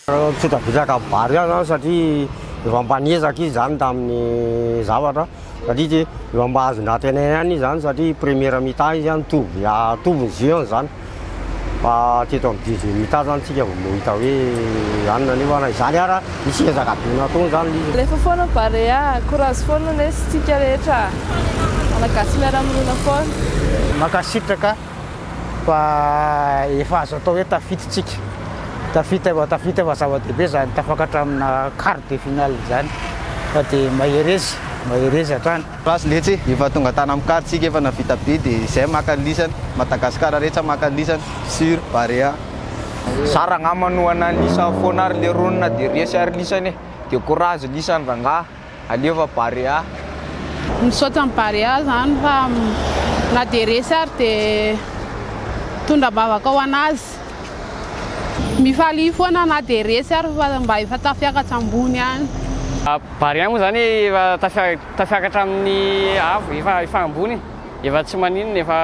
Misaotra vary ihany aho satria efa mba niezaka izy izany tamin'ny zavatra satria dia efa mba azon'antenaina ihany izy izany satria première mi-temps izy an, mitovy mitovy ny jeu-ny izany. Mba teto amin'ny Didy Mitard zany tsika vao mahita hoe anona nefa na izany ara misy ezaka be natao izany lii. Alefa foana ny Barea a! Courage foana lesy tsika rehetra Malagasy miara-monina foana. Mankasitraka fa efa azo atao hoe tafita tsika. Tafita efa tafita fa zava-dehibe izany tafakatra amina quart de finale izany fa dia mahereza, mahereza hatrany. Ratsy letsy efa tonga tany am car tsika efa navita be de zay maka lisany Madagascar retsy a maka lisany sur barea. Zara angamba no ana lisa foana ary le ronina de resy ary lisany e de courage lisany rangaha alefa barea. Misaotra ny barea zany fa na dia resy ary de mitondra ambavaka ho anazy. Mifalia foana na dia resy ary fa mba efa tafiakatra ambony any. Barea moa izany efa tafiakatra amin'ny avo, efa ambony e, efa tsy maninona, efa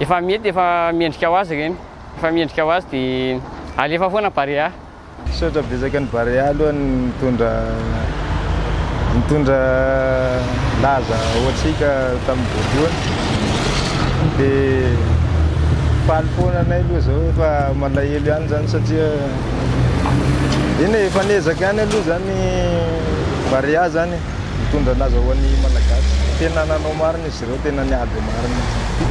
efa mety, efa mendrika ho azy ireny, efa mendrika ho azy dia alefa foana Barea. Misaotra betsaka an'i Barea aloha nitondra nitondra laza ho antsika tamin'ny voalohany dia faly foana anay aloha izao fa malahelo ihany izany satria Eny e, efa niezaka ihany aloha izany Barea izany nitondra an'azy ho an'ny Malagasy. Tena nanao marina izy ireo, tena niady marina izy.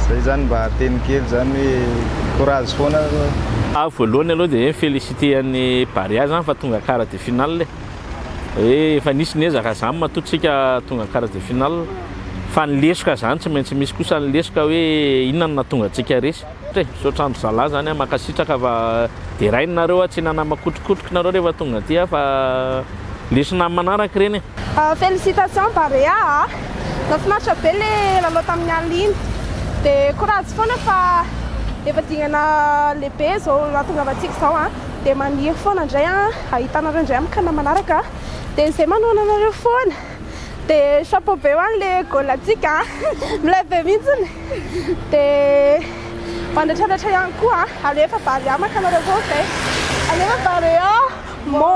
Izay izany mba teny kely izany hoe courage foana aloha. Aho voalohany aloha dia mi-feliciter an'ny Barea izany fa tonga quart de finale e. Hoe efa nisy ny ezaka izany matoa tsika tonga quart de finale. Fa ny lesoka izany tsy maintsy misy kosa ny lesoka hoe inona no nahatonga antsika resy. Te, misaotra andry zalah zany a, mankasitraka fa derainy nareo a, tsy nanama kotrokotroky nareo rehefa tonga aty a, fa lesona am manaraka ireny e. Félicitations Barea a! Nafinaritra be le lalao tamin'ny alina iny de courage foana fa efa dingana lehibe zao ahatongavantsika zao a de maniry foana ndray a ahitanareo ndray am kina manaraka de zay manohana anareo foana. dia chapeau be ho an' ilay goal antsika milay be mihitsiny dia mandratraratra ihany koa alefa barea maka anareo koa zay alefa barea mô